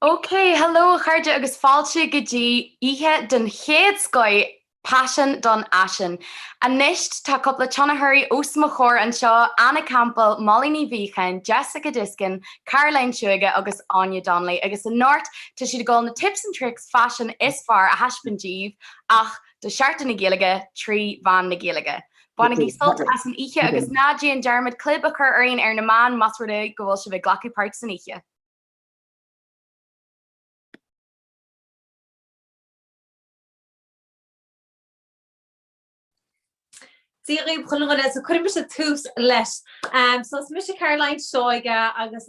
OK, hello a chairde agus fáilte go dtí oíche den chéad scoith Paisean don Fhaisean. Anois tá cúpla tionchairí os mo chomhair anseo, Anna Campbell, Molly Ní Mhíocháin, Jessica Diskin, Caroline Seoige agus Áine Donnelly agus anocht tá siad ag dul na tips and tricks faisin is fearr a thaispeáint daoibh ach do Sheachtain na Gaeilge trí mheán na Gaeilge. Bainigí sult as an oíche agus ná déan dearmad clib a chur orainn ar na meáin más rud é go bhfuil sibh ag glacadh páirt san oíche! Dia dhaoibh chuile dhuine is cuirfidh mise tús leis. So is mise Caroline Seoige agus.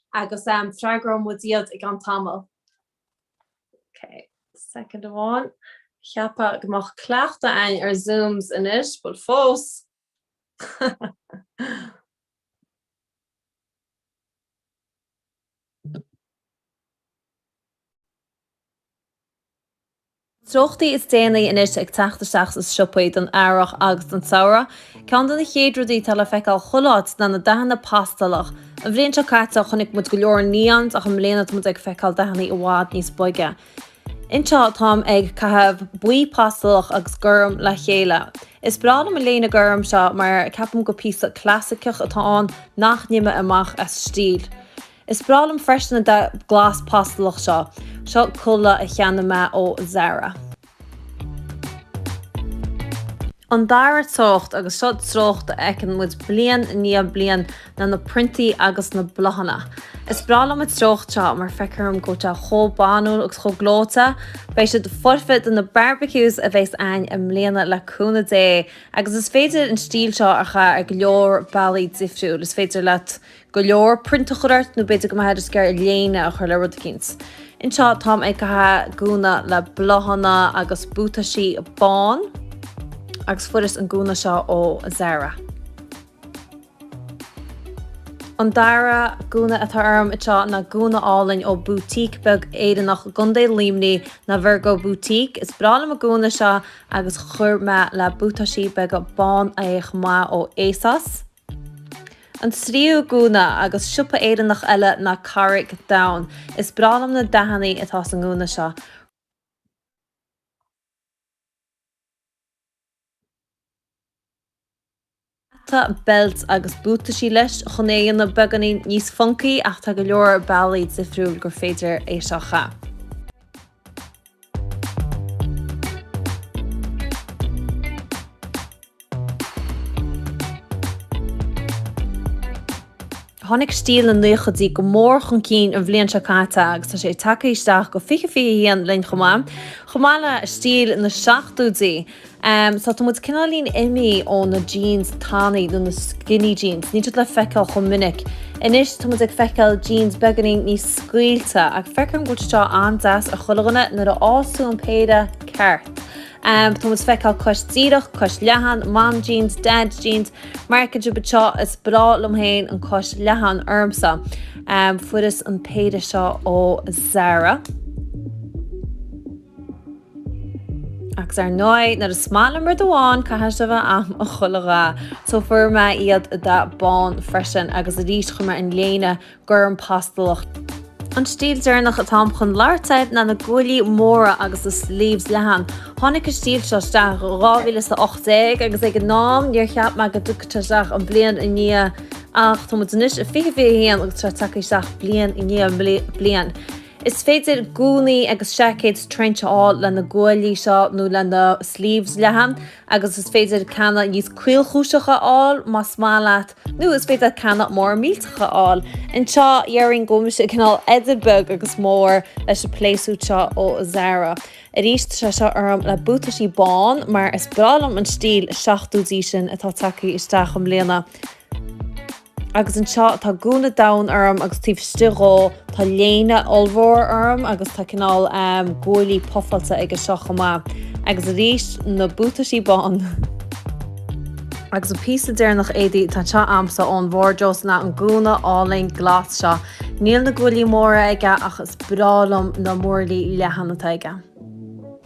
agus freagróidh muid iad i gceann tamaill. Ok, soicind amháin. Cheapfá go mbeadh cleachtadh againn ar Zooms anois, bhuel fós! Na treochtaí is déanaí anois ag teacht isteach sna siopaí don earrach agus don tsamhradh. Ceann de na chéad rudaí atá le feiceáil chuile áit ná na dathanna pastalach. An bhliain seo caite chonaic muid go leor neons ach i mbliana tá muid ag feiceáil dathanna i bhfad níos boige. Anseo táim ag caitheamh buí pastalach agus gorm le chéile. Is breá liom an léine gorm seo mar ceapaim gur píosa clasaiceach atá ann nach n-imeoidh amach as stíl. Is breá liom freisin an dath glas pastalach seo. Seo culaith a cheannaigh mé ó Zara. An dara treocht, agus seo treocht a fheiceann muid bliain i ndiaidh bliain, ná na priontaí agus na bláthanna. Is breá liom an treocht seo mar feictear dom go bhfuil sé chomh banúil agus chomh gleoite. Beidh siad foirfe do na barbecues a bheas againn i mbliana le cúnamh Dé! Agus is féidir an stíl seo a chaitheamh ar go leor bealaí difriúil. Is féidir leat go leor print a chur ort nó b'fhéidir go mbeifeá just ag iarraidh léine a chur le rud eicínt. Anseo táim ag caitheamh gúna le bláthanna agus buataisí bán agus fuaireas an gúna seo ó Zara. An dara gúna atá orm anseo ná gúna álainn ó boutique beag Éireannach i gContae Luimnigh, ná Virgo Boutique. Is breá liom an gúna seo agus chuir mé le buataisí beaga bán é chomh maith ó Asos. An tríú gúna, agus siopa Éireannach eile ná Carraig Donn. Is breá liom na dathannaí atá sa ngúna seo. Hata, beilt agus buataisí leis chun é a dhéanamh beagáinín níos funcaí ach tá go leor bealaí difriúil gur féidir é seo a chaitheamh. Tháinig stíl na naochaidí go mór chun cinn an bhliain seo caite agus tá sé tagtha isteach go dtí 2021 linn chomh maith, chomh maith le stíl na seachtóidí. Tá muid cineáilín imí ó na jeans tanaí nó na skinny jeans, níl siad le feiceáil chomh minic anois, tá muid ag feiceáil jeans beagáinín níos scaoilte, ach feicim go bhfuil siad seo an-deas ar chuile dhuine nuair a fhaigheanns tú an péire ceart. Tá muid feiceáil cos díreach, cos leathan, mom jeans, dad jeans, mar fheiceann sibh anseo, is breá liom féin an cos leathan ormsa. Fuaireas an péire seo ó Zara. Agus ar ndóigh, nuair is maith liom rud amháin, caithfidh sé a bheith a'm i chuile dhath! So fuair mé iad i dath bán freisin agus arís chuir mé orm an léine gorm pastalach. An stíl deireanach atáim chun labhairt air ná na guaillí móra agus na sleeves leathan. Tháinig an stíl seo isteach i 2018 agus ag an am níor cheap mé go dtiocfadh sé isteach an bliain i ndiaidh ach tá muid anois i 2021 agus tá sé tagtha isteach bliain i ndiaidh bliain. Is féidir gúnaí agus seaicéad trench a fháil le na guaillí seo nó le na sleeves leathan agus is féidir ceanna níos caolchúiseacha a fháil más maith leat nó is féidir ceanna móra millteacha a fháil. Anseo dhéarfainn go bhfuil mise cineál idir beag agus mór leis an playsuit seo ó Zara. Arís tá sé seo orm le buataisí bán mar is breá liom an stíl seachtóidí sin atá tagtha isteach i mbliana. Agus anseo tá gúna donn orm agus taobh istigh dhó tá léine ollmhór orm agus tá cineál guaillí pufáilte aige seo chomh maith. Agus arís na buataisí bán. Agus an píosa deireanach éadaí tá anseo a'msa ón várdrós ná an gúna álainn glas seo. Níl na guaillí móra aige ach is breá liom na muinchillí leathan atá aige.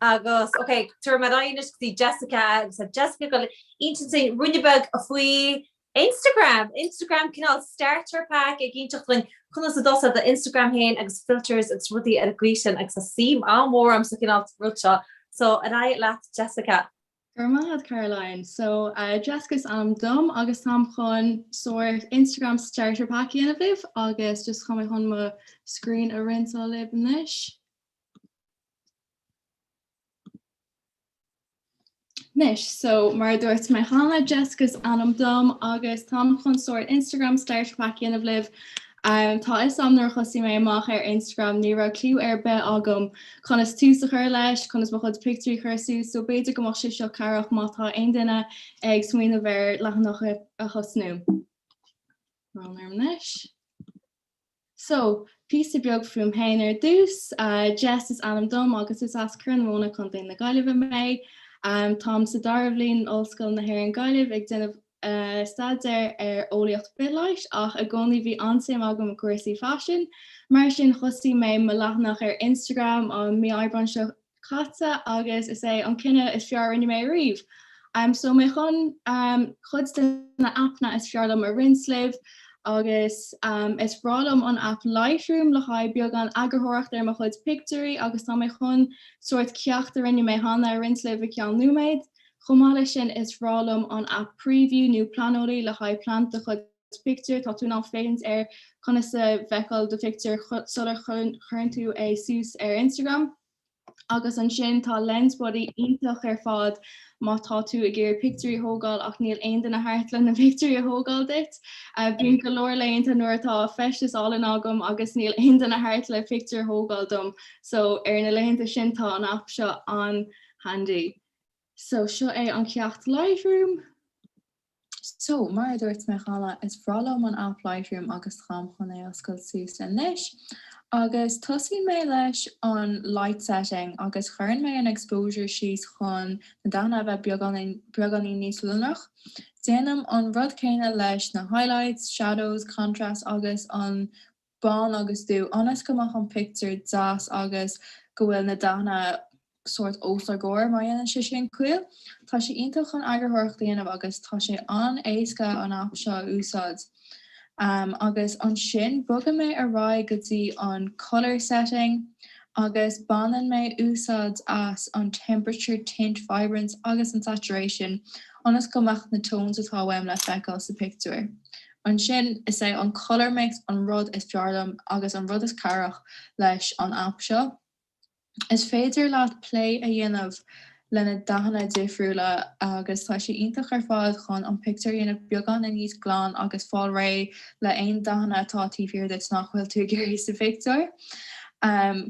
Agus, ok, tabharfaidh mé aghaidh anois go dtí Jessica agus tá Jessica ag goil ag inseacht duinn ruainne beag faoi Instagram, Instagram cineál starter pack ag inseacht dhuinn conas a thosú do Instagram fhéin agus filters agus rudaí ar an gcaoi sin agus tá suim an-mhór a'm sa chineál rud seo so ar aghaidh leat Jessica. Go raibh maith agat Caroline. So, Jessica is ainm dom agus táim chun sórt Instagram starter pack a dhéanamh libh agus just chun mé chun mo screen a roinnt libh anois. Anois, so mar dúirt mé cheana, Jessica is ainm dom agus táim chun sórt Instagram starter pack a dhéanamh libh Um, tá a fhios a'm nuair a thosaigh mé amach ar Instagram ní raibh clú ar bith agam conas tús a chur leis, conas mo chuid pictiúirí a chur suas, so b'fhéidir go mbeadh sé seo cabhrach má tá aon duine ag smaoineamh ar leathanach a thosnú. Orm anois. So, píosa beag fúm féin ar dtús, Jess is ainm dom agus is as Corr na Móna, Contae na Gaillimhe mé. Táim sa dara bhliain in Ollscoil na hÉireann Gaillimh ag déanamh staidéar ar eolaíocht bithleighis ach i gcónaí bhí an-suim agam i gcúrsaí faisin, mar sin thosaigh mé mo leathanach ar Instagram an mí Aibreán seo caite agus is é an cinneadh is fearr a rinne mé riamh! So tá mé chun cuid de na aipeanna is fearr liom a roinnt libh agus is bhreá liom an aip Lightroom le haghaidh beagán eagarthóireacht ar mo chuid pictiúirí agus tá mé chun sórt ceacht a rinne mé cheana a roinnt libh i gceann nóiméad. Chomh maith leis sin, is bhreá liom an aip Preview nó Planoly le haghaidh plean do chuid pictiúr, tá tú in ann féachaint ar conas a bhfeiceáil do phictiúr sular chuireann tú é suas ar Instagram. Agus ansin tá Lensbuddy iontach ar fad má tá tú ag iarraidh pictiúirí a thógáil ach níl aon duine thart le na pictiúirí a thógáil duit. Bíonn go leor laethanta nuair atá feisteas álainn agam agus níl aon duine thart le pictiúr a thógáil dom, so ar na laethanta sin tá an aip seo an-handy. So, seo é an ceacht Lightroom. So, mar a dúirt mé cheana, is bhreá liom an aip Lightroom agus táim chun é a oscailt suas anois. Agus tosaíonn mé leis an Light Setting agus cuireann mé an Exposure síos chun na dathanna a bheith beagáinín níos lonrach. Déanaim an rud céanna leis na Highlights, Shadows, Contrast agus an bán agus dubh, ionas go mbeadh an pictiúr deas agus go bhfuil na dathanna sórt os ár gcomhair, má dhéanann sé sin ciall. Tá sé iontach chun eagarthóireacht a dhéanamh agus tá sé an-éasca an aip seo a úsáid. Agus ansin bogann mé ar aghaidh go dtí an Colour setting agus baineann mé úsáid as an Temperature, Tint, Vibrance agus an Saturation, ionas go mbeadh na tones atá uaim le feiceáil sa pictiúr. Ansin, is é an colour mix an rud is fearr liom agus an rud is cabhrach leis an aip seo. Is féidir leat plé a dhéanamh le na dathanna difriúla agus tá sé iontach ar fad chun an pictiúr a dhéanamh beagáinín níos glan agus fáil réidh le aon dathanna atá taobh thiar duit nach bhfuil tú ag iarraidh sa phictiúr.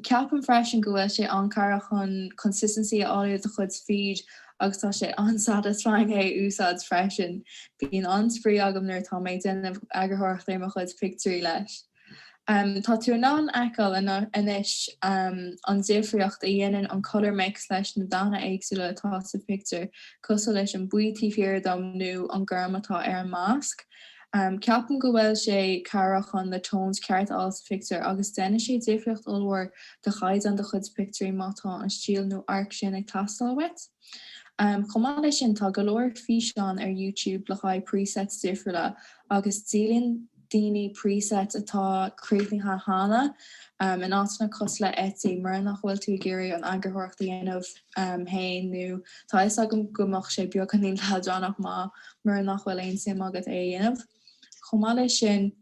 Ceapaim freisin go bhfuil sé an-cabhrach chun consistency a fháil i do chuid feed agus tá sé an-satisfying é a úsáid freisin, bíonn an-spraoi agam nuair atá mé ag déanamh eagarthóireacht ar mo chuid pictiúirí leis. Tá tú in ann a fheiceáil anois an difríocht a dhéanann an colour mix leis na dathanna éagsúla atá sa phictiúr, cosúil leis an buí taobh thiar dom nó an gorm atá ar an masc. Ceapaim go bhfuil sé cabhrach chun na tones cearta a fháil sa phictiúr agus déanann sé difríocht ollmhór do chaighdeán do chuid pictiúirí má tá an stíl nó an cuma sin ag teastáil uait. Chomh maith leis sin tá go leor físeán ar YouTube le haghaidh presets difriúla agus díolann daoine presets atá críochnaithe cheana in áiteanna cosúil le Etsy mura nach bhfuil tú ag iarraidh an eagarthóireacht a dhéanamh féin nó tá 'fhios agam go mbeadh sé beagáinín leadránach má, mura nach bhfuil aon suim agat é a dhéanamh. Chomh maith leis sin,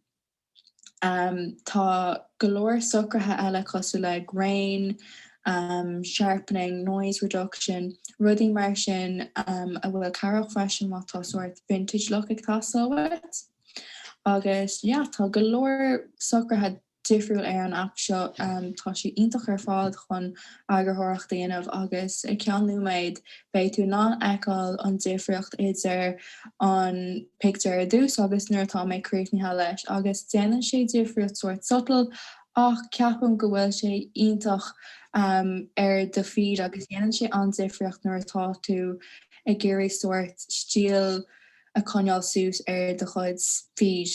tá go leor socruithe eile cosúil le grain, sharpening, noise reduction, rudaí mar sin a bhfuil cabhrach freisin má tá sórt vintage look ag teastáil uait. Agus yeah, tá go leor socruithe difriúil ar an aip seo. Tá sé iontach ar fad chun eagarthóireacht a dhéanamh agus i gceann nóiméad beidh tú in ann fheiceáil an difríocht idir an pictiúr ar dtús agus nuair atá mé críochnaithe leis agus déanann sé difríocht sórt subtle ach ceapaim go bhfuil sé iontach ar do feed agus dhéanann sé an-difríocht nuair atá tú ag iarraidh sórt stíl a choinneáil suas ar do chuid feed.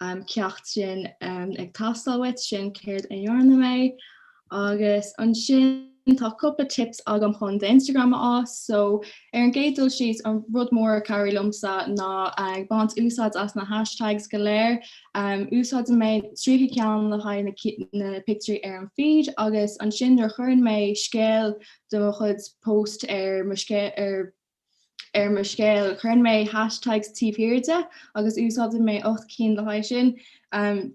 an effect sin ag teastáil uait, sin céard a dhearna mé. Agus ansin tá cúpla tips agam chun d'Instagram a fhás. So, ar an gcéad dul síos, an rud mór a chabhraigh liomsa ná ag baint úsáid as na hashtags go léir. Úsáideann mé 30 ceann le haghaidh na pictiúirí ar an feed agus ansin nuair a chuireann mé scéal de mo chuid post ar mo scéal ar mo scéal. Cuireann mé hashtags taobh thiar de agus úsáideann mé ocht gcinn le haghaidh sin.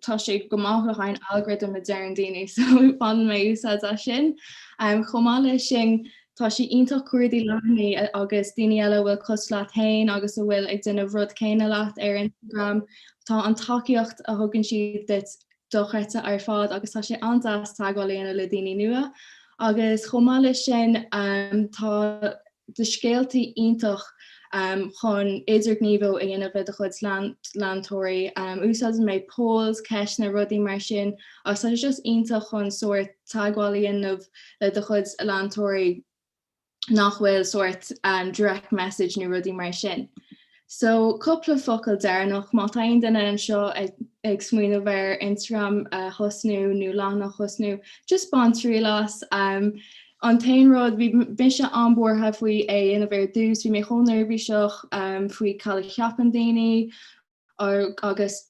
Tá sé go maith le haghaidh an algorithm a deireann daoine so baineann mé úsáid as sin. Chomh maith leis sin, tá sé iontach cuardaigh leathanaigh agus daoine eile a bhfuil cosúil leat féin agus a bhfuil ag déanamh rud céanna leat ar Instagram. Tá an tacaíocht a thugann siad duit dochreidte ar fad agus tá sé an-deas teagmháil a dhéanamh le daoine nua. Agus chomh maith leis sin, tá. do scéalta iontach chun idirghníomhú a dhéanamh le do chuid leantóirí. Úsáideann mé polls, ceisteanna, rudaí mar sin agus tá sé just iontach chun sórt teagmháil a dhéanamh le do chuid leantóirí nach bhfuil sórt direct message nó rudaí mar sin. So, cúpla focal deireanach, má tá aon duine anseo ag smaoineamh ar Instagram a thosnú nó leathanach a thosnú, just bain triail as. An t-aon rud, bhí mise an-buartha faoi é a dhéanamh ar dtús, bhí mé chomh neirbhíseach faoi cad a cheapann daoine agus,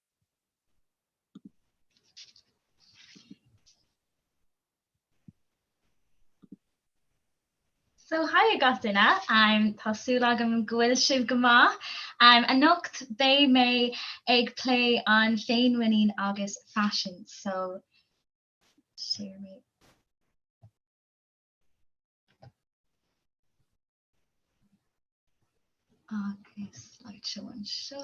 So haigh gach duine, tá súil agam go bhfuil sibh go maith. Anocht beidh mé ag plé an fhéinmhuinín agus faisin, so share me. Agus slideshow anseo.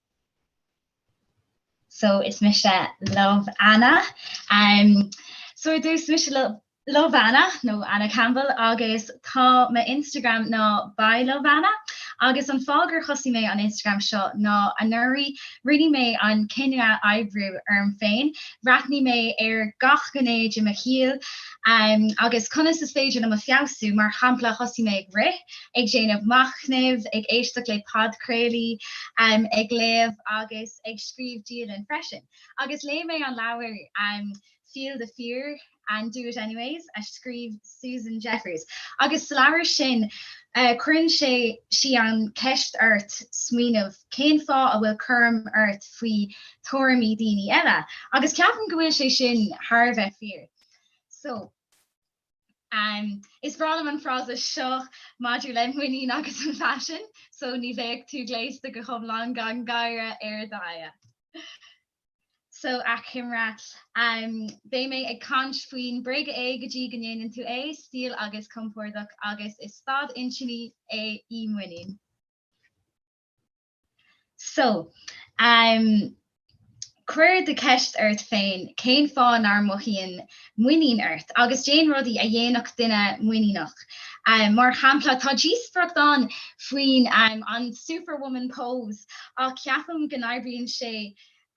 So is mise Love Anna um So ar dtús mise Love Anna nó Anna Campbell agus tá m'Instagram ná By Love Anna agus an fáth gur thosaigh mé an Instagram seo ná anuraidh rinne mé an cinneadh oibriú orm féin, bhreathnaigh mé ar gach gné de mo shaol um agus conas is féidir liom a fheabhsú, mar shampla thosaigh mé ag rith, ag déanamh machnaimh, ag éisteacht le podchraoltaí, ag léamh agus ag scríobh dialann freisin. Agus léigh mé an leabhar Feel the Fear and Do it Anyways a scríobh Susan Jeffers. Agus sa leabhar sin cuireann sé, sí an cheist ort smaoineamh cén fáth a bhfuil cúram ort faoi thuairimí daoine eile. Agus ceapaim go bhfuil sé sin thar a bheith fíor. So. Is breá liom an frása seo maidir le muinín agus an faisean, so ní bheadh tú gléasta go hiomlán gan gáire ar d'aghaidh. So, achoimre, beidh mé ag caint faoin bréaga é go dtí go ndéanann tú é, stíl agus compordach, agus is staid intinne é í muinín. So, um cuir an cheist ort féin, cén fáth nach mothaíonn muinín ort? Agus déan rudaí a dhéanfadh duine muiníneach. Um mar shampla, tá díospoireacht ann faoin um an superwoman pose ach ceapaim go n-oibríonn sé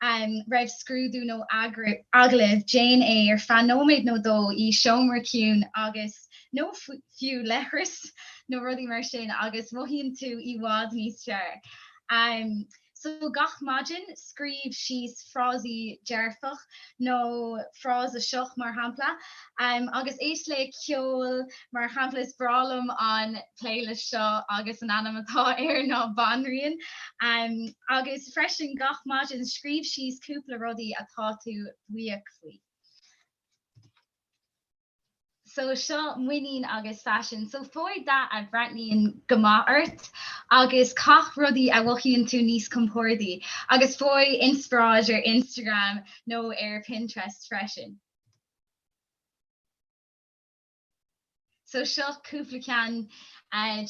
Roimh scrúdú nó agallamh déan é ar feadh nóiméad nó dó i seomra ciúin agus, nó fiú leithreas nó rudaí mar sin agus mothaíonn tú i bhfad níos fearr. So gach maidin scríobh síos frásaí dearfach nó frása seo mar shampla. agus éist le ceol mar shampla. Is breá liom an playlist seo agus an ainm atá air ná Banríon. Agus freisin gach maidin scríobh síos cúpla rudaí atá tú buíoch faoi. So seo muinín agus faisean. So faigh dath a bhreathnaíonn go maith ort agus caith rudaí a mhothaíonn tú níos compordaí. Agus faigh inspioráid ar Instagram nó ar Pinterest freisin. So seo cúpla ceann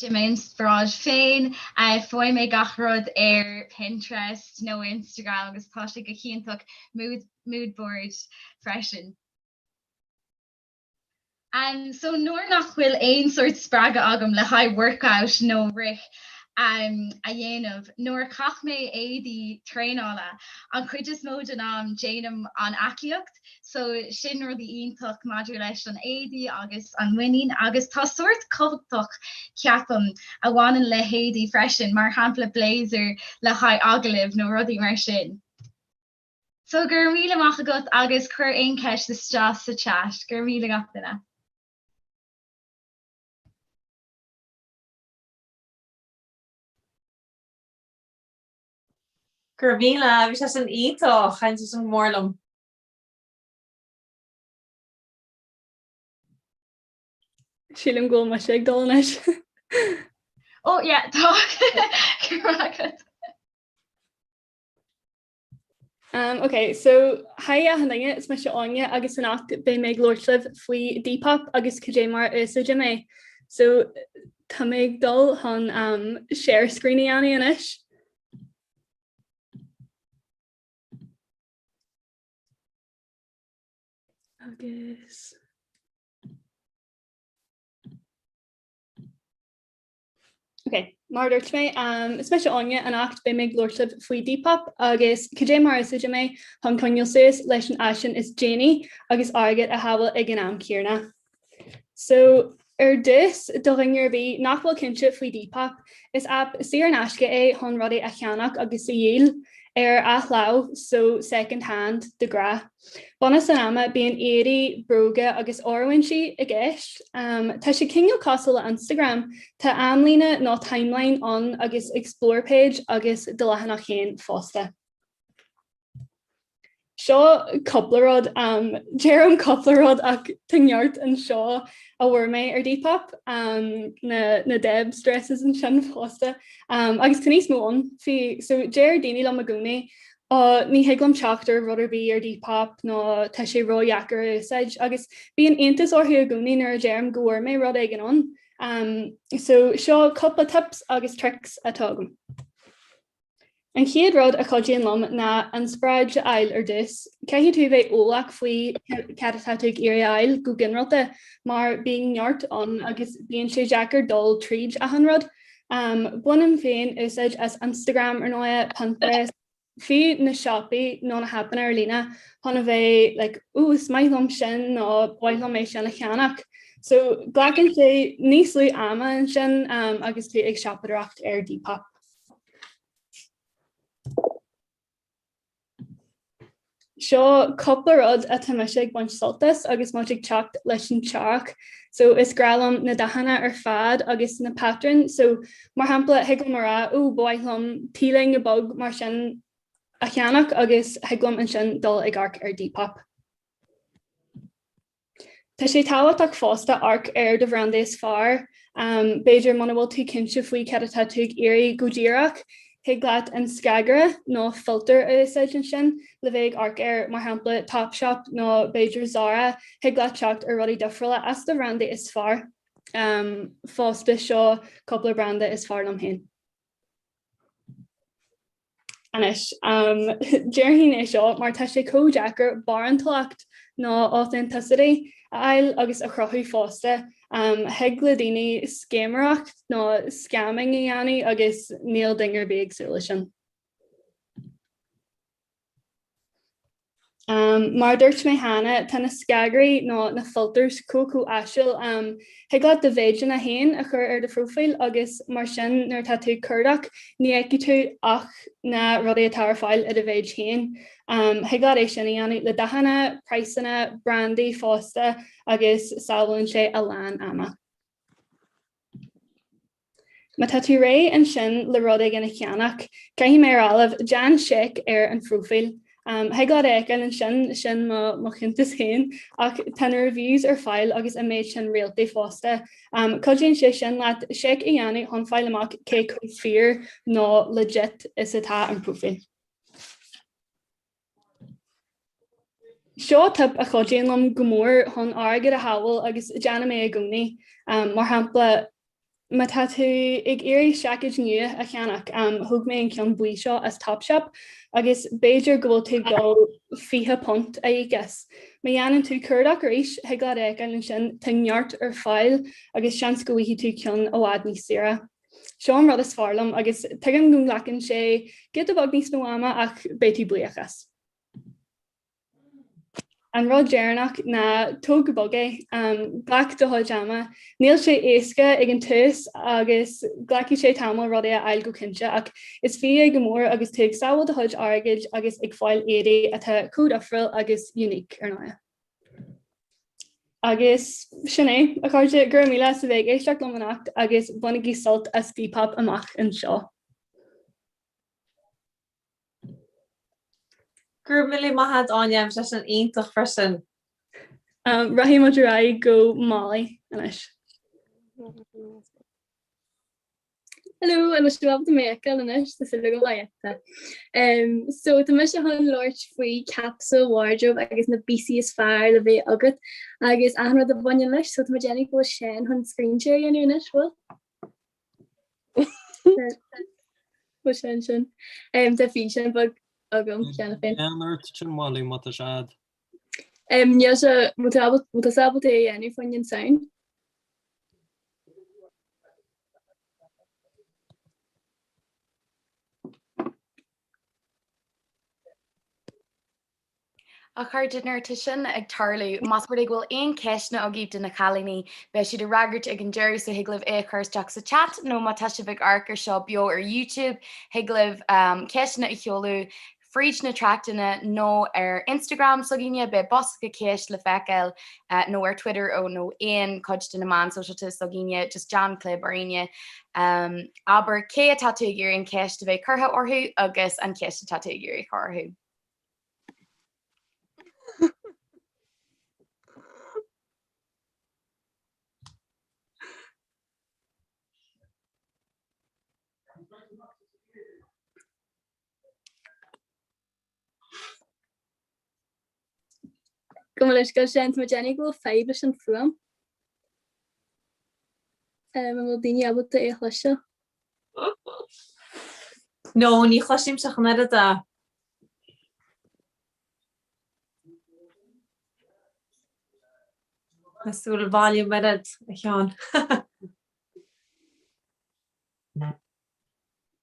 de m'inspioráid féin. Faigheann mé gach rud ar Pinterest nó Instagram agus tá sé go hiontach mood board freisin. So nuair nach bhfuil aon sórt spreagadh agam le haghaidh workout nó rith a dhéanamh, nuair a chaith mé éadaí traenála, an chuid is mó den am déanaim an aclaíocht. So sin rud iontach maidir leis na héadaí agus an mhuinín. Agus tá sórt cumhachtach, ceapaim, a bhaineann le héadaí freisin, mar shampla blazer le haghaidh agallaimh nó rudaí mar sin. So go raibh míle maith agat agus cuir aon cheist isteach sa chat. Go raibh míle gach duine. Go raibh míle, bhí sé sin iontach! Thaitin sé sin go mór liom. Sílim go bhfuil mise ag dul anois. Oh yeah tá Go raibh maith agat. Um, ok, so hi achan duine, is mise Áine agus anocht beidh mé ag labhairt libh faoi Depop agus cad é mar a úsáidim é. So Tá mé ag dul chun an share screen a dhéanamh anois. Agus. Ok, mar a dúirt mé, is mise Áine anocht beidh mé ag labhairt libh faoi Depop agus cad é mar a úsáidim é chun coinneáil suas leis an fhaisean is déanaí agus airgead a shábháil ag an am céanna. So, ar dtús, do dhaoine ar bith nach bhfuil cinnte faoi Depop, is aip saor in aisce é chun rudaí a cheannach agus a dhíol, ar athláimh, so second hand, de ghnáth. Bunús an ama, bíonn éadaí, bróga agus oiriúintí i gceist. Tá sé cineál cosúil le Instagram, tá amlíne nó timeline ann agus explore page agus do leathanach féin fosta. Seo cúpla rud, deirim cúpla rud ach tá neart anseo a fuair mé ar Depop, na Debs dresses ansin fosta agus tá níos mó ann. So deir daoine liom i gcónaí Ó ní thig liom teacht ar rud ar bith ar Depop nó tá sé ródheacair a úsáid agus bíonn iontas orthu i gcónaí nuair a deirim go bhfuair mé rud éigin ann. So seo cúpla tips agus tricks atá agam. An chéad rud a chuidíonn liom ná inspioráid a fháil ar dtús. Caithfidh tú bheith eolach faoi cad atá tú ag iarraidh a fháil go ginearálta mar bíonn neart ann agus bíonn sé deacair dul tríd achan rud. Bainim féin úsáid as Instagram, ar ndóighe, Pinterest, fiú na siopaí nó na haipeanna ar líne chun a bheith like ooh is maith liom sin nó ba mhaith liom é sin a cheannach. So glacann sé níos lú ama ansin agus tú ag siopadóireacht ar Depop. Seo cúpla rud atá mise ag baint sult as agus muid ag teacht leis an earrach. So, is grá liom na dathanna ar fad agus na patrúin. So, mar shampla, thig liom a rá, oh, ba mhaith liom tí loinge beag mar sin a cheannach agus thig liom ansin dul ag amharc ar Depop. Tá sé tábhachtach fosta amharc ar do bhrandaí is fearr. B'fhéidir, muna bhfuil tú cinnte faoi cad atá tú ag iarraidh go díreach, thig leat an scagaire nó filter a úsáid ansin le bheith ag amharc ar, mar shampla Topshop nó b'fhéidir Zara, thig leat teacht ar rudaí difriúla as do bhrandaí is fearr fosta. Seo cúpla branda is fearr liom féin. Anois, déarfainn é seo mar tá sé chomh deacair barántúlacht nó authenticity a fháil agus a chruthú fosta. Thig le daoine scéiméireacht nó scamming a dhéanamh agus níl duine ar bith ag súil leis sin. Mar a dúirt mé cheana, tá na scagairí nó na filters chomh chomh áisiúil, thig leat do mhéideanna féin a chur ar do phróifíl agus mar sin nuair atá tú ag cuardach ní fheicfidh tú ach na rudaí atá ar fáil i do mhéid féin. Thig leat é sin a dhéanamh le dathanna, praghsanna, brandaí fosta agus sábhálann sé a lán ama. Má tá tú réidh ansin le rud éigin a cheannach, caithfidh mé a rá, déan seic ar an phróifíl. Thig leat é a fheiceáil ansin, sin mo chuntas féin, ach tá na reviews ar fáil agus an méid sin réaltaí fosta. Cuidíonn sé sin leat seic a dhéanamh chun fáil amach cé chomh fíor nó 'legit' is atá an próifíl. Seo tip a chuidíonn liom go mór chun airgead a shábháil agus déanaim é i gcónaí. Mar shampla, má tá tú ag iarraidh seaicéid nua a cheannach, thóg mé an ceann buí seo as Topshop agus b'fhéidir go bhfuil tú ag dul fiche punt a íoc as. Má dhéanann tú cuardach arís, thig leat é a fheiceáil ansin, tá neart ar fáil agus seans go bhfaighidh tú ceann i bhfad níos saoire. Seo an rud is fearr liom agus tuigim go nglacann sé giota beag níos mó ama ach beidh tú buíoch as. An rud deireanach ná tóg go bog é, glac do chuid ama. Níl sé éasca ag an tús agus glacfaidh sé tamall rudaí a fháil cinnte ach is fiú é go mór agus tú ag sábháil do chuid airgid agus ag fáil éadaí atá chomh difriúil agus unique ar ndóigh. Agus sin é, a chairde, go raibh míle as a bheith ag éisteacht liom anocht agus bainigí sult as Depop amach anseo! Go raibh míle maith a'd Áine em seisiún iontach freisin. Rachaidh muid ar aghaidh go Molly anois. Hello an féidir libh mé a fheiceáil anois tá súil agam. Em so tá mise chun labhairt faoi capsule wardrobe agus na píosaí is fearr le bheith agat agus achan rud a bhaineann leis so tá mé ag déanamh go bhfuil Seán chun screen share a dhéanamh anois bhfuil? Bhfuil Seán sin? Em tá físeán beag agam cheana féin. Lean ort féin a Mholly má tá sé a'd. Em, níl sé, mo tábla, mo tá sábla tae a dhéanamh faoin an sound. A chairde, nuair atá sin ag tarlú, más rud é go bhfuil aon ceisteanna agaibh do na cailíní, beidh siad á fhreagairt ag an deireadh so thig libh é a chur isteach sa chat nó má tá sibh ag amharc ar seo beo ar YouTube, thig libh, em, ceisteanna a sheoladh fríd na tráchtanna nó ar Instagram s'againne, beidh bosca ceist le feiceáil, nó ar Twitter nó aon chuid de na meáin sóisialta s'againne, just déan clib orainne, abair cé atá tú ag iarraidh an cheist a bheith curtha orthu agus an cheist atá tú ag iarraidh a chur orthu. Gabh mo leithscéal a Sheáin, tá mé ag déanamh go bhfuil fadhb leis an fuaim. An bhfuil daoine ábalta é a chloisteáil? No, ní chloisimse ach an oiread. Cuir suas an volume in airde, a Sheáin.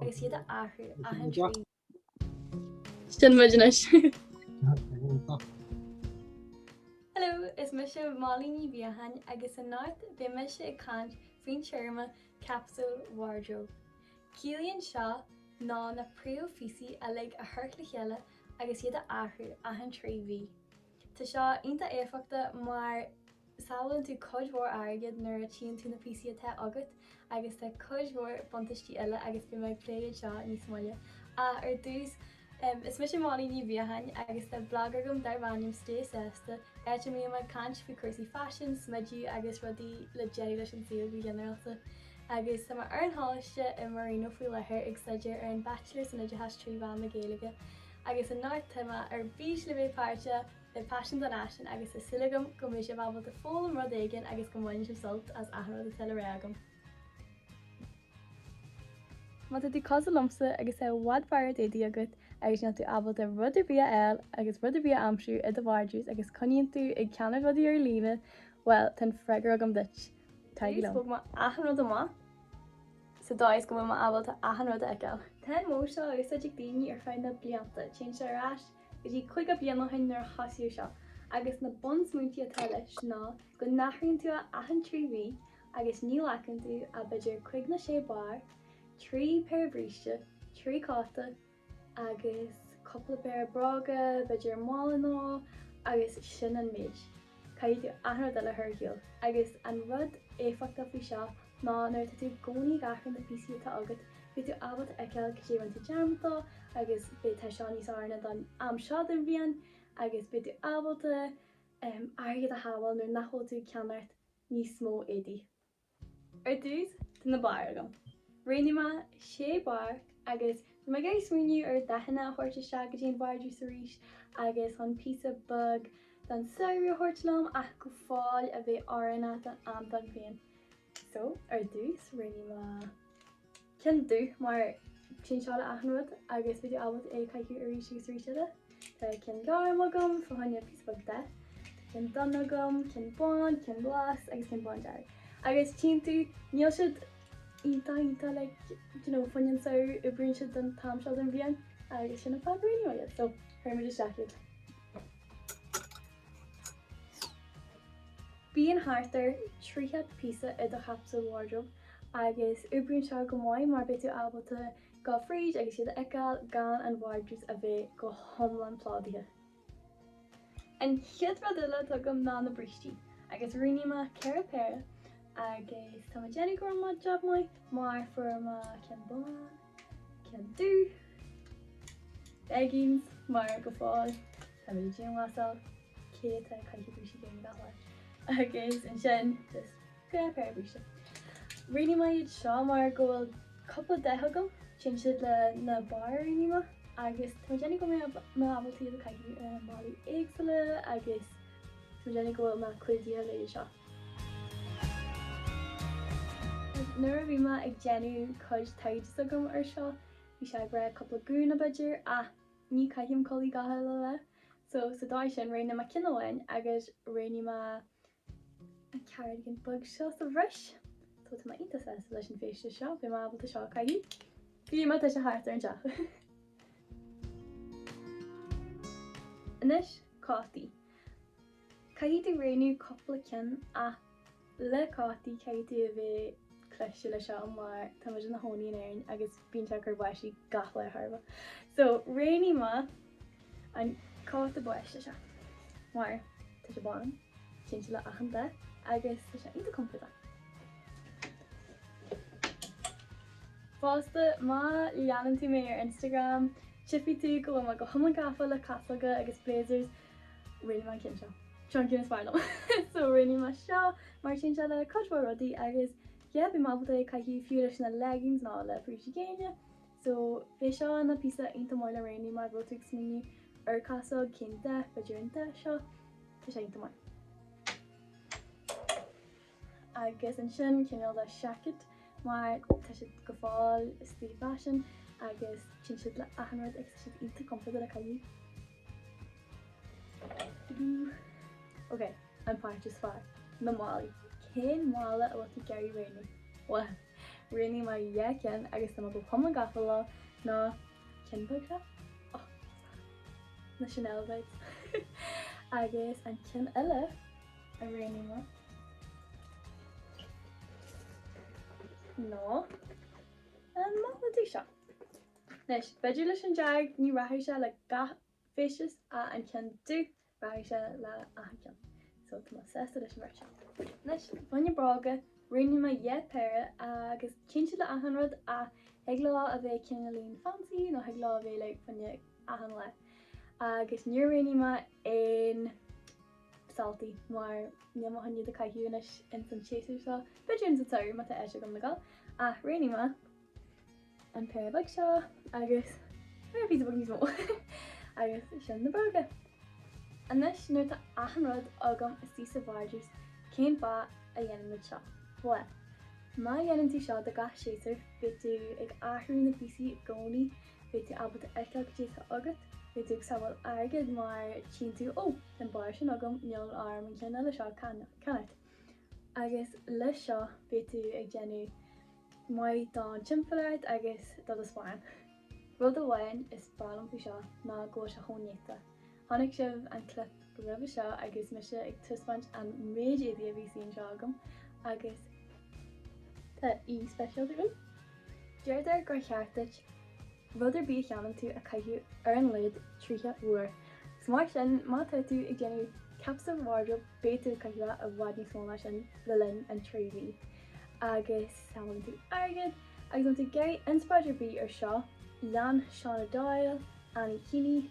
Agus iad a athrú achan trí mí. Sin muid anois. Hello, is mise Molly Ní Bheacháin agus anocht beidh mise ag caint faoin téarma capsule wardrobe. Ciallaíonn seo ná na príomhphíosaí uilig a chur le chéile agus iad a athrú achan trí mhí. Tá seo iontach éifeachtach mar Sábhálann tú cuid mhór airgid nuair a tchíonn tú na píosaí atá agat agus tá cuid mhór buntaistí eile agus beidh mé ag plé iad seo níos moille ach ar dtús Is mise Molly Ní Mhíocháin agus tá blag agam darb ainm Stay Sásta áit a mbím ag caint faoi cúrsaí faisin, smideadh agus rudaí le déanamh leis an saol go ginearálta agus tá mé ar an choláiste i Marino faoi láthair ag staidéar ar an Bachelor san Oideachas trí mheán na Gaeilge agus anocht tá mé ar bís le bheith páirteach le paisean don fhaisean agus tá súil agam go mbeidh sibh ábalta foghlaim rud éigin agus go mbainfidh sibh sult as achan rud atá le rá agam. Má tá tú cosúil liomsa agus tá i bhfad barraíocht éadaí agat agus níl tú ábalta rud ar bith a fháil agus rud ar bith a aimsiú i do vardrús agus coinníonn tú ag ceannach rudaí ar líne, bhuel, tá an freagra agam duit! Taraigí liom! Thóg mé achan rud amach sa dóigh is go bhfuil mé ábalta achan rud a fheiceáil. Tá an modh seo á úsáid ag daoine ar feadh na blianta, téann sé ar ais, Go dtí caoga bliain ó shin nuair a thosaíodh seo, agus na bunsmaointí atá leis ná go n-athraíonn tú é achan trí mhí agus ní ghlacann tú ach b'fhéidir cúig nó sé barr, trí péire bríste, trí cóta agus cúpla péire bróga, b'fhéidir, mála nó agus sin an méid. Caithfidh tú achan rud eile a chur ar shiúl. Agus an rud éifeachtach faoi seo Ná nuair atá tú i gcónaí ag athrú na píosaí atá agat, beidh tú ábalta a fheiceáil cad é a rinne tú dearmad dó agus b'fhéidir tá seo níos oiriúnaí don am seo den bhliain agus beidh tú ábalta airgead a shábháil nuair nach bhfuil tú ag ceannacht níos mó éadaí. Ar dtús, tá na bairr agam. Roghnaigh mé sé barr agus tá mé ag iarraidh smaoineamh ar dhathanna a thabhairt isteach go dtí an vardrús arís agus chun píosa beag den samhradh a thabhairt liom ach go fóill a bheith oiriúnach don am dom féin. So, ar dtús, roghnaigh mé ceann dubh mar téann seo le achan rud agus tá tú ábalta é a chaitheamh arís agus arís eile. Tá ceann gorm agam, fá choinne píosa beag dath, tá ceann donn agam, ceann bán, ceann glas agus ceann bándearg. Agus tchíonn tú, níl siad iontach iontach like, do you know, fuinneann, so, oibríonn siad don t-am seo den bhliain agus sin an fáth gur roghnaigh mé iad. So, cuirfidh muid isteach iad. Bíonn thart ar thríocha píosa i do chapsule wardrobe agus oibríonn seo go maith mar beidh tú ábalta dul fríd agus iad a fheiceáil gan an vardrús a bheith go hiomlán plódaithe. An chéad rud eile atá agam ná na brístí agus roghnaigh mé ceithre péire agus tá mé ag déanamh go rinne mé jab maith mar fuair mé ceann bán, Ceann dubh, Leggings, mar go fóill, tá mé i ndianghlasáil, cé atá ag caitheamh bríste géine gach lá? agus ansin just dhá phéire bríste. Roghnaigh mé iad seo mar go bhfuil cúpla dath agam, téann siad leis na bairr a roghnaigh mé agus tá mé ag déanamh go mbeidh mé ábalta iad a chaitheamh i mbealaí éagsúla agus. Is minic a bhfuil mé clúdaithe leis seo. Agus nuair a bhí mé ag déanamh cuid taighde s'agam ar seo, bhí sé ag rá cúpla gúna, b'fhéidir, ach ní chaithim culaith gach uile lá. So, sa dóigh sin, roghnaigh mé ceann amháin agus roghnaigh mé an cardigan beag seo sa bhreis. So, tá mé iontach sásta leis an feisteas seo. Beidh mé ábalta seo a caitheamh fiú má tá sé thart ar an teach! Anois, cótaí. Caithfidh tú roghnú cúpla ceann ach le cótaí caithfidh tú a bheith cliste le seo mar tá muid ina chónaí in Éirinn agus bíonn sé ag cur báistí gach lá thar barr. So, roghnaigh mé an cóta báistí seo mar tá sé bán, téann sé le achan dath agus tá sé iontach compordach. Fosta, má leanann tú mé ar Instagram, tchifidh tú go bhfuil mé go hiomlán gafa le casóga agus blazers, really mar an ceann seo. Seo an ceann is fearr liom! So, roghnaigh mé seo mar téann sé le cuid mhór rudaí agus yeah, bím ábalta é a caitheamh fiú leis na leggings nó le brístí géine. So, bheadh seo ina píosa iontach maith le roghnú má bhfuil tú ag smaoineamh ar chasóg, cén dath, b'fhéidir an dath seo, tá sé iontach maith. Agus ansin cineál de seaicéad, mar tá siad go fóill faoi fhaisean agus téann siad le achan rud agus tá siad iontach compordach le caitheamh. Ok, an páirt is fearr, na málaí. Cén mála a bhfuil tú ag iarraidh roghnú? Bhuel, roghnaigh mé dhá ceann agus tá mé go hiomlán gafa leo na cinn beag seo, oh, is breá liom na Chanel vibes, agus an ceann eile, a roghnaigh mé ná an mála dearg seo. Anois, b'fhéidir leis an dearg, ní rachaidh sé le gach feisteas ach an ceann dubh, rachaidh sé le achan cheann. So, tá mé sásta leis an bheirt seo. Anois, fá choinne bróga, roghnaigh mé ceithre péire agus téann siad le achan rud ach thig leo a bheith cineáilín fancy nó thig leo a bheith like fá choinne achan lá agus níor roghnaigh mé aon Sáltaí, mar níl mé chun iad a caitheamh anois ins an séasúr seo, b'fhéidir ins an samhradh má tá áit agam le gabháil, ach roghnaigh mé an péire beag seo agus péire píosa beag níos mó agus sin na bróga. Anois nuair atá achan rud agam istigh sa vardrús cén fáth a dhéanann muid seo? Bhuel, má dhéanann tú seo do gach séasúr beidh tú ag athrú na bpíosaí i gcónaí Beidh tú ábalta fheiceáil caidé atá agat, beidh tú ag sábháil airgid mar tchíonn tú, Ó, tá an barr sin agam, níl orm an ceann eile seo a cheannach. Agus leis seo beidh tú ag déanamh maith don timpeallacht agus do do sparán. Rud amháin is breá liom faoi seo ná go bhfuil sé chomh néata. Chonaic sibh an clip roimhe seo agus mise ag taispeáint an méid éadaí a bhí saor anseo agam agus. Tá aoi speisialta agam. Deirtear gur cheart duit rud ar bith a cheannann tú a chaitheamh ar a laghad 30 uair. So mar sin má tá tú ag déanamh capsule wardrobe beidh tú ag caitheamh i bhfad níos mó ná sin le linn an 3 mhí. Agus sábhálann tú airgead. Agus má tá tú ag iarraidh inspioráid ar bith ar seo, lean Shauna Doyle, Annie Keeney,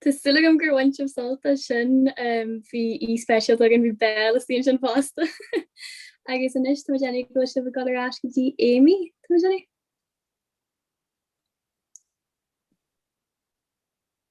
Tá súil agam gur bhain sibh sult as sin. Bhí aoi speisialta againn, bhí béal istigh ansin fosta. Agus anois táimid ready go bhfuil sibh ag dul ar ais go dtí Amy, táimid ready?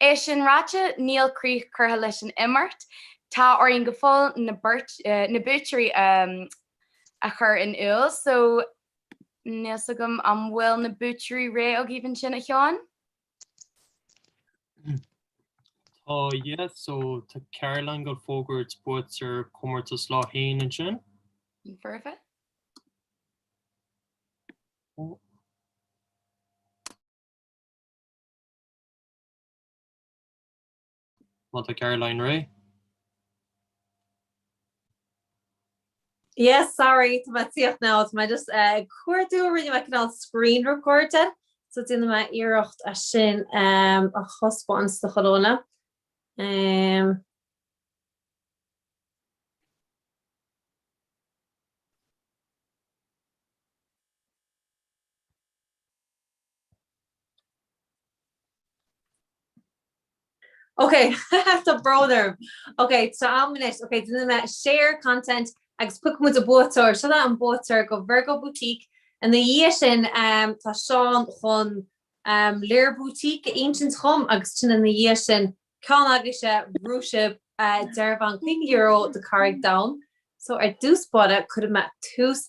É sin ráite, níl críoch curtha leis an imeacht. Tá orainn go fóill na buaiteoirí a chur in iúl so níl 's agam an bhfuil na buaiteoirí réidh agaibh ansin, a Sheáin? Tá, yeah, so tá Caroline ag fógairt buaiteoir comórtas Lá Fhéin ansin. Foirfe. Má tá Caroline réidh. Yes sorry tá mé tíocht now tá mé just eh, ag cuardú rinne mé cineál screen record de so déanfaidh mé iarracht é sin em, a thaispeáint do chuile dhuine. Em, Ok, tá brón orm. Ok, tá sé a'm anois. Ok, déanfaidh mé share content agus piocfaidh muid an buaiteoir. Seo é an buaiteoir go Virgo Boutique. Ina dhiaidh sin, tá Seán chun Lir Boutique a insint dhom agus ansin ina dhiaidh sin, ceann agaibhse, bhuaigh sibh dearbhán €50 do Carraig Donn. So, ar dtús báire, cuirfidh mé tús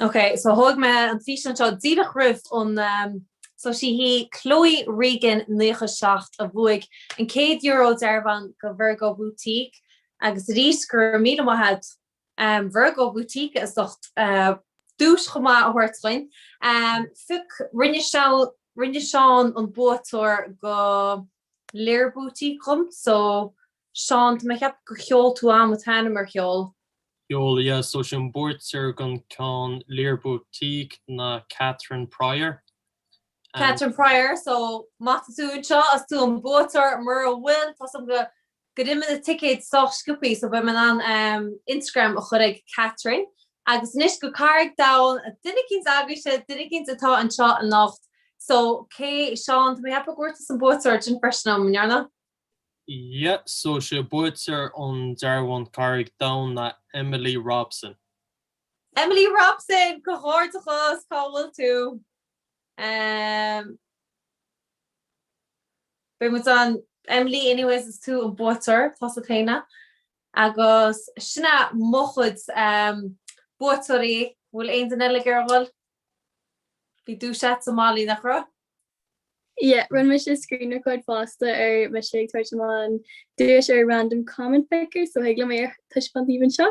Ok, so thóg me an físeán seo díreach roimh an ehm so 'sí Chloe Regan, naocha seacht, a bhuaigh an céad Euro dearbhán go Virgo Boutique agus arís go raibh míle maith a'd! Virgo Boutique as ucht duais chomh maith a thabhairt dhúinn. Phioc, rinne, rinne Seán an buaiteoir go Lir Boutique dhom so Seán, tá mé a cheapadh gur sheol tú a'am a t-ainm ar sheol? Sheol, yeah, so is é an buaiteoir gon ceann Lir Boutique ná Catherine Prior. Catherine Prior, so maith tú anseo, is tú an buaiteoir, mura bhfuil, tá a fhios a'm go, go dtí na ticéid sách sciobtha so beidh mé in ann Instagram a chur ag Catherine. Agus anois go Carraig Domhain, duine eicínt agaibhse, duine eicínt atá anseo anocht. So, cé, Seán, tá mé ag ceapadh go bhfuair tusa an buaiteoir sin freisin uaim, an bhfuair? Yeah, so sé buaiteoir an dearbháin Carraig Domhain ná Emily Robson. Emily Robson! Comhghairdeachas! Cá bhfuil tú? Em. Beidh muid ann. Emily anyways is tú an buaiteoir, tusa féin a. Agus sin é mo chuid em buaiteoirí, an bhfuil aon duine eile ag iarraidh a dhul? An raibh duais a'd sa mbaile nach raibh? Yeah, rinne mise screen record fosta orm féin ag tabhairt amach an duais ar random comment picker so thig liom é a taispeáint daoibh anseo.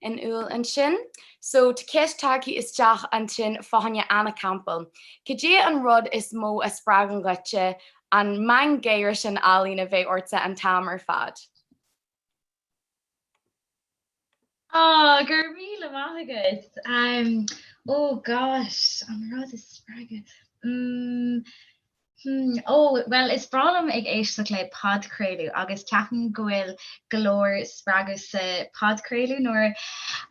in iúl ansin. So tá ceist tagtha isteach ansin fá choinne Anna Campbell. Caidé an rud is mó a spreagann dhuitse an meangadh gáire sin álainn a bheith ortsa an t-am ar fad? Oh, go raibh míle maith agat. Um, oh gosh, an rud is spreagadh. Mm, Hmm, ó, bhuel, is breá liom ag éisteacht le podchraoladh agus ceapaim go bhfuil go leor spreagadh sa podchraoladh. Nuair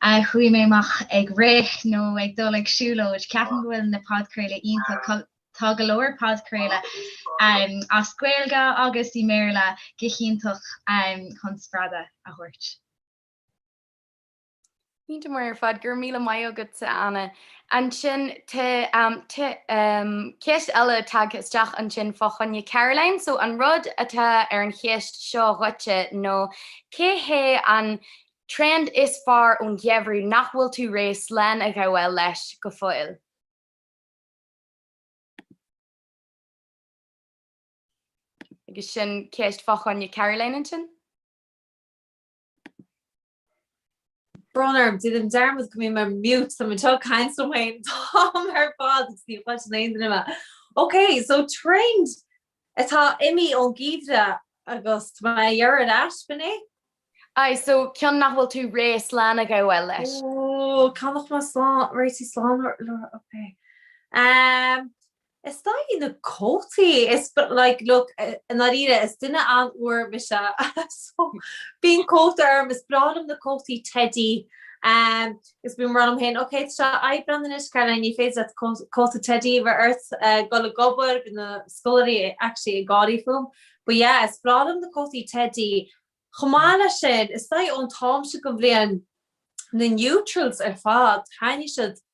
a théim amach ag rith nó ag dul ag siúlóid, ceapaim go bhfuil na podchraoladh iontach. Tá go leor podchraoladh as Gaeilge agus i mBéarla go háirithe chun spreagadh a thabhairt. Iontach maith ar fad, go raibh míle maith agatsa Anna. Ansin tá ceist eile tagtha isteach ansin fá choinne Caroline, so an rud atá ar an cheist seo dhuitse nó cé hé an trend is fearr ón gheimhreadh nach bhfuil tú réidh slán a fhágáil leis go fóill? Agus sin ceist fá choinne Caroline ansin. Brón orm, rinne mé dearmad go raibh mé mute san, an seo caint liom féin, táim ar fad ag suí anseo gan aon duine eile. Ok, so trend atá imithe ón gheimhreadh agus tá mé a dheireadh leat, Mhnaoi? Aye, so ceann nach bhfuil tú réidh slán a fhágáil leis. Ooh, cá mbeadh mé slán, réidh tú slán le rá, ok. Ehm, Is dóigh na cótaí is like look i ndáiríre is duine an-fhuar mise so bíonn cóta orm, is breá liom na cótaí teidí ehm is bím ag rá liom féin ok tá sé Aibreán anois Caroline ní féidir leat cóta teidí a bheith ort ag dul ag obair, bíonn na scoláirí actually ag gáirí fúm but yeah is breá liom na cótaí teidí. Chomh maith leis sin is dóigh an t-am seo den bhliain na neutrals ar fad taitníonn siad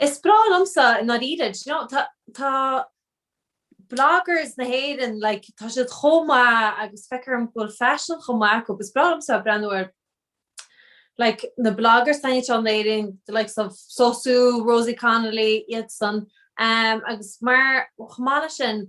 Is breá liomsa i ndáiríre, do you know, tá, tá bloggers na hÉireann, like, tá siad chomh maith agus feictear dhom go bhfuil faisean chomh maith acu, is breá liomsa breathnú ar like na bloggers atá anseo in Éirinn, the likes of SoSue, Rosie Connolly, iadsan, agus mar, chomh maith leis sin,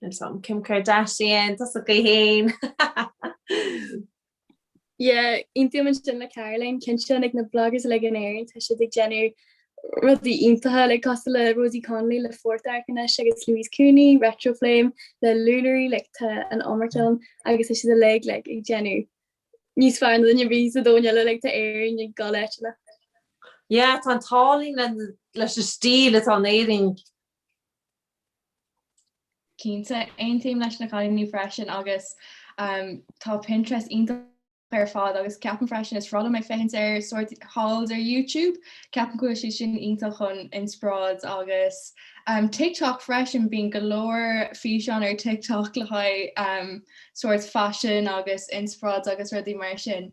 Sin san, Kim Kardashian, tusa thú fhéin! Yeah, aontaím ansin le Caroline, cinnte na bloggers uilig in Éirinn tá siad ag déanamh rudaí iontacha like cosúil le Rosie Connolly le 4th Arq anois agus Louise Cooney, Retro Flame, le Lullery like tá an iomarc ann agus tá siad uilig like ag déanamh níos fearr ná duine ar bith sa domhan eile like tá Éirinn ag dul leis like. Yeah, tá an tallann leis an stíl atá in Éirinn Cinnte, aontaím leis na cailíní freisin agus tá Pinterest iontach ar fad agus ceapaim freisin, is breá liom ag féachaint ar sórt hauls ar YouTube, ceapaim go bhfuil siad sin iontach chun inspioráid agus TikTok freisin, bíonn go leor físeán ar TikTok le haghaidh sórt faisean agus inspioráid agus rudaí mar sin.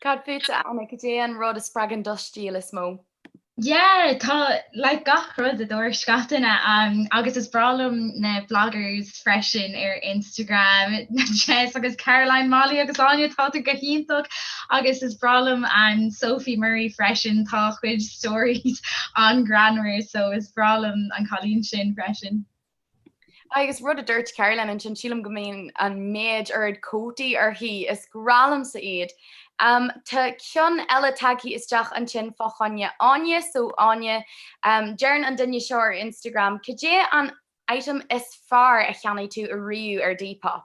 Cad fútsa, a Anna, cad é an rud a spreagann do stíl is mó? Yeah, tá like gach rud, a dúirt Caitríona, agus is breá liom na bloggers freisin ar Instagram, Jess agus Caroline, Molly agus Áine, táthar go hiontach, agus is breá liom an Sophie Murray freisin, tá a cuid stories an-ghreannmhar, so is breá liom an cailín sin freisin. Agus rud a dúirt Caroline ansin, sílim go mbíonn an méid oiread cótaí uirthi, is breá liomsa iad. Tá ceann eile tagtha isteach ansin fá choinne Áine, so Áine, deireann an duine seo ar Instagram, cad é an item is fearr a cheannaigh tú ariamh ar Depop?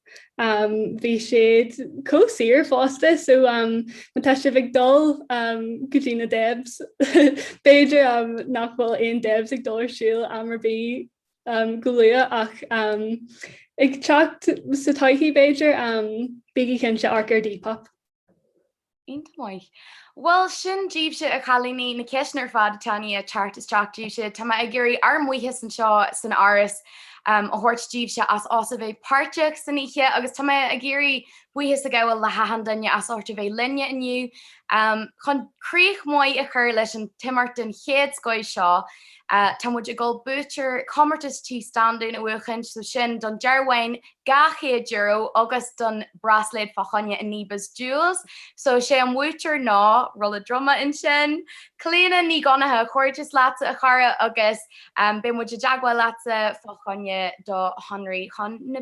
Um, bhí siad chomh saor fosta, so um, má tá sibh ag dul um, go dtí na Debs, b'fhéidir um, nach bhfuil aon Debs ag dul ar siúl am ar bith um, go luath ach um, ag teacht sa todhchaí b'fhéidir, um, bígí cinnte, amharc ar Depop. Iontach. Bhuel, sin daoibhse, a chailíní, na ceisteanna ar fad atá in ndiaidh teacht isteach daoibhse. Tá mé ag iarraidh ár mbuíochas anseo san Áras a thabhairt daoibhse as ucht a bheith páirteach san oíche agus tá mé ag iarraidh buíochas a ghabháil le hachan duine as ucht a bheith linne inniu. Chun críoch mhaith a chur leis an imeacht den chéad scoith seo, Tá muid ag dul buaiteoir comórtas tí Standún a fhógairt so sin don dearbhán €200 agus don braisléad fá choinne an Neebus Jewels so is é an buaiteoir ná, rolla druma ansin, Clíona Ní Dhonnacha, comhghairdeas leatsa a chara agus beidh muid i dteagmháil leatsa fá choinne do shonraí chun na.